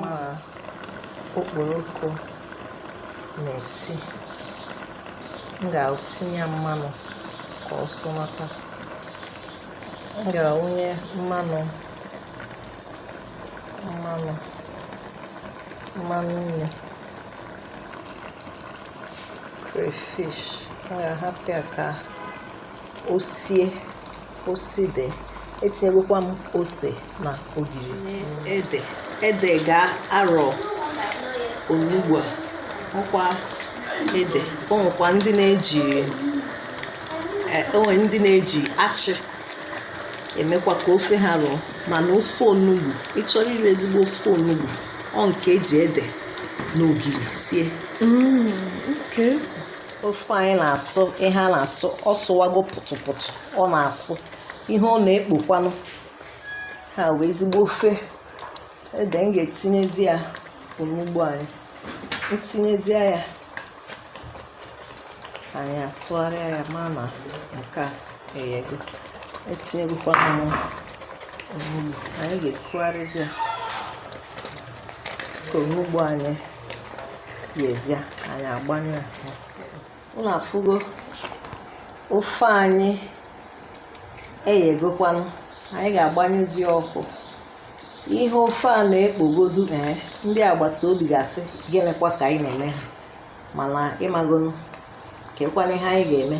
ma okporoko na-esi m ga-etinye ya mmanụ ka ọ sụnata m ga-awụnye mmanụ mmanụ mmanụ nri crayfish m ga-ahapụ ya ka o sie o side etinyegokwa m ose na ogiri ede ede ga-arọ onugbu a ọkwa ede o nwekwa ndị na-eji e, o nwe ndị na-eji achị emekwa ka ofe ha rọọ mana ofe onugbu ị chọrọ iri ezigbo ofe onugbu ọ nke e ji ede na ogiri sie mm, ofe anyị na-asụ ihe a na-asụ ọ sụwago pụtụpụtụ ọ na-asụ ihe ọ na-ekpokwanụ ha wee ezigbo ofe ede m ga-etinyezi ya onugbu anyị m tinyezie ya anyị atụgharịa ya ma na nke a eyego etinyegokwana m onugbu anyị ga-ekugharịzi ya ka onugbu anyị yezie anyị agbanyụ ọkụ unu afụgo ofe anyị eyegokwanụ anyị ga-agbanyụzi ọkụ ihe ofe a na-ekpogodu ee ndị agbata obi ga-asị gịnịkwa ka anyị na-eme ha mana ị magonu kekwanụ ihe anyị ga-eme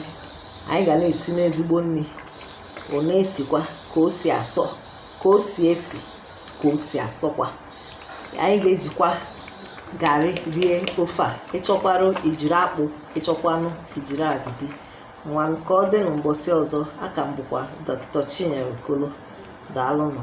anyị ga na-esinụ ezigbo nri ọ na-esikwa ka o si asọ ka o si esi ka o si asọkwa anyị ga-ejikwa garị rie ofe a ị chọkwanụ ijiri akpụ ị chọkwanụ ijiri agidi ngwa ka ọ dịnụ mgbọsị ọzọ a ka m bụkwa dọkịta chinyere okolo daalụnụ